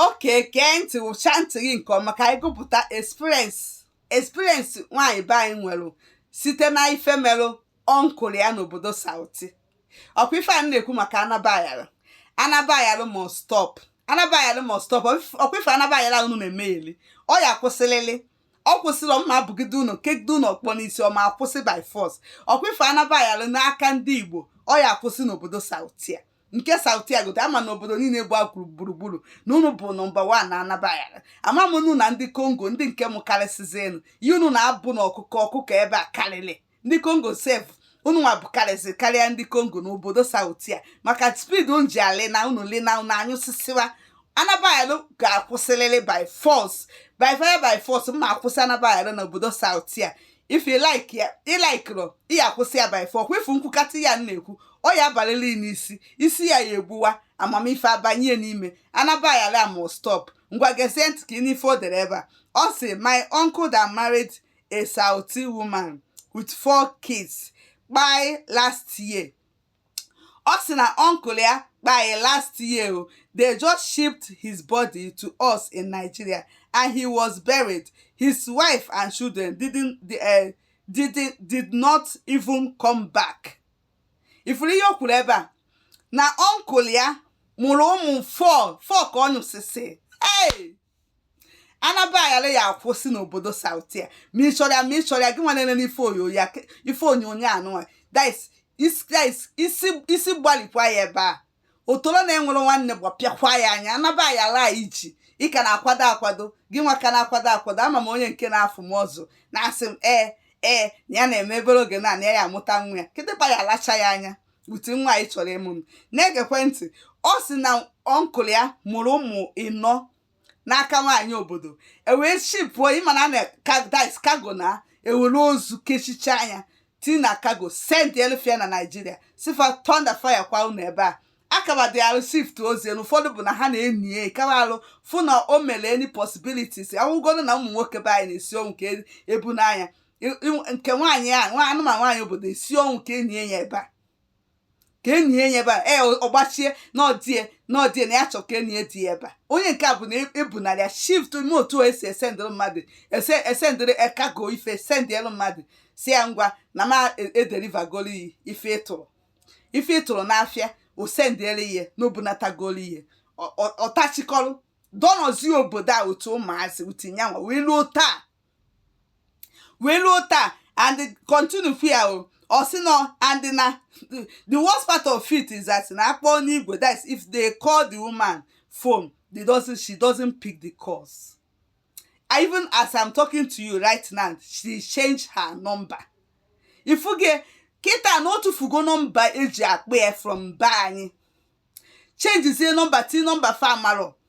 okay gee ntị wụchaa ntị gị nke ọma ka anyị gụpụta experience experience nwaanyị be anyị nwere site na ife merụ uncle ya n'obodo sauti ọkwa ife a m na-ekwu maka anabayara anabayara must stop anabayara must stop ọkwa ife anabayara unu na-emegheli ọ ya akwụsịrịrị ọ kwụsịrọ m ma abụgide unu kegide unu ọkpọ n'isi ọ ma akwụsị by force ọkwa ife anabayara n'aka ndị igbo ọ ya akwụsị n'obodo sauti a nke sauti a gote ama na obodo niile gba gburugburu na unu bụ nọmba wan na anabayara ama m unu na ndị kongo ndị nke m karịsịzienu ihe unu na-abụ na ọkụkọ ọkụkọ ebe a karịrị ndị kongo sef unu nwa bụkarịsị karịa ndị kongo na obodo sauti a maka speed unu ji alị na unu li na unu anyụsịsịwa anabayara ga-akwụsịrịrị by force by fire by force m ma akwụsị anabayara na obodo sauti a if you like ya ị laikirọ ị ya akwụsị ya by force kwefu m kwukata ya na-ekwu ọ ya abalịlị n'isi isi ya ya egbuwa amamife abanye n'ime anabayara must stop ngwa gezie ntị ka ị nụ ife o dere ebe a ọ sị my uncle that married a sauti woman with four kids kpai last year ọ sị na uncle ya kpai last year o they just shipped his body to us in Nigeria and he was buried his wife and children did not even come back ị fụrụ ihe o kwuru ebe a na uncle ya mụrụ ụmụ four four ka ọ nyụsịsị hey! anabayara ya akwụsị n'obodo sauti a ma ị chọrọ ya ma ị chọrọ ya gị nwa na-elele ife onyonyo anụnwa isi gbalịkwa ya ebe a otoro na-enwerọ nwanne gbapịakwa ya anya anabayara ị ji ị ka na-akwado akwado gị nwa ka na-akwado akwado ama m onye nke na-afụ m ọzọ na-asị m ee ee na ya na-eme ebere oge na na ya ya amụta nwa ya kịtịkpa ya alacha ya anya ụdị nwa ị chọrọ ịmụ na-egekwe ntị ọ sị na uncle ya mụrụ ụmụ ịnọ n'aka nwaanyị obodo e wee shipuo ị ma na na dis kago na ewere ozu kechicha anya tii na kago sendeelụ fa na naijiria sị fa thunder fire kwa unu ebe a akaba dị arụ shift ozi elu ụfọdụ bụ na ha na-enyi ya ikawa arụ fụ na o mere any possibilities awụgoro na ụmụ nwoke be anyị na-esi ọnwụ ka ebu n'anya nke nwaanyị a nwa anụmanụ nwaanyị obodo esi ọnwụ ka enyi ya ebe a ka enyi ya ebe a ee ọgbachie n'ọdie n'ọdie na ya chọ ka enyi ya di ya ebe a onye nke a bụ na ebunarị ya shift ime otu a esi esendịrị mmadụ ese esendịrị kago ife sendịelụ mmadụ sị ya ngwa na m edelivagoro gị ife ị tụrụ ife ị tụrụ n'afịa o sendịere ihe n'obunatagoro ihe ọtachikọrọ dọnọzie obodo a otu ụmụazị utinyanwa wee luo taa wee ruo taa and continue ife a o ọ sị na and na the worst part of it is that na akpọ n'igwe that is if they call the woman phone they doesn't she doesn't pick the calls I even as I'm talking to you right now she change her number ifuge kịta na o tufugo nọmba eji akpọ ya from be anyị chenjizie nọmba ti nọmba fa amarọ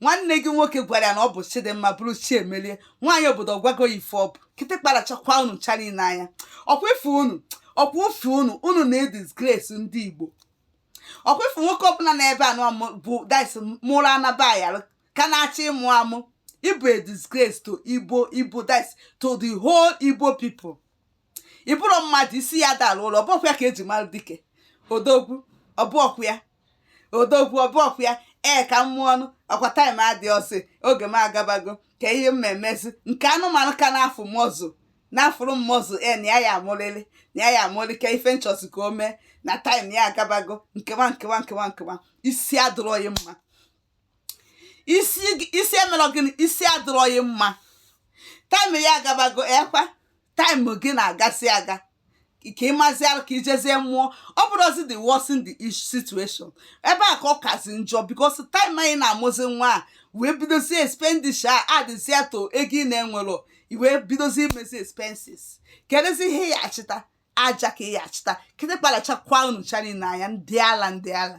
nwanne gị nwoke gwara ya na ọ bụ chidịmma bụrụ chiemelie nwaanyị obodo ọgwago ya ife ọ bụ kịtịkpa rachakwa unu ncha niile anya ọkwa ife unu ọkwa ofe unu unu na-edisgrace ndị igbo ọkwa ife nwoke ọbụla na-ebe anụ amụ bụ dis mụrụ anaba ya ka na-achọ ịmụ amụ ị bụ a disgrace to igbo igbo dis to the whole igbo people ị bụrọ mmadụ isi ya dara ụlọ ọ bụọkwa ya ka eji mara dike odogwu ọ bụọkwa ya odogwu ọ bụọkwa ya ee ka m mụọ ọnụ ọkwa taịm adịrọzi oge m agabago ka ihe m emezi nke anụmanụ ka na-afụ mọzụ na-afụrụ m mọzụ ee na ya ya amụrịrị na ya ya amụrị ka ife m chọzi ka o mee na taịm ya agabago nkewa nkewa nkewa nkewa isi adịrọghị mma isi gị- isi emerọ gịnị isi adịrọghị mma taịm ya agabago ekwa taịm gị na-agazi aga ka ị maziara ka ị jezie mụọ ọ bụrụzi the worsen the situation ebe a ka ọ kazi njọ because taịm anyị na-amụzi nwa a wee bidozie expenditure adịzie to ego ị na-enwerọ ị wee bidozie imezi expenses kedụzi ihe ị ya achịta aja ka ị ya achịta kịtịkpa rachakwa unu ncha niile anya ndị ala ndị ala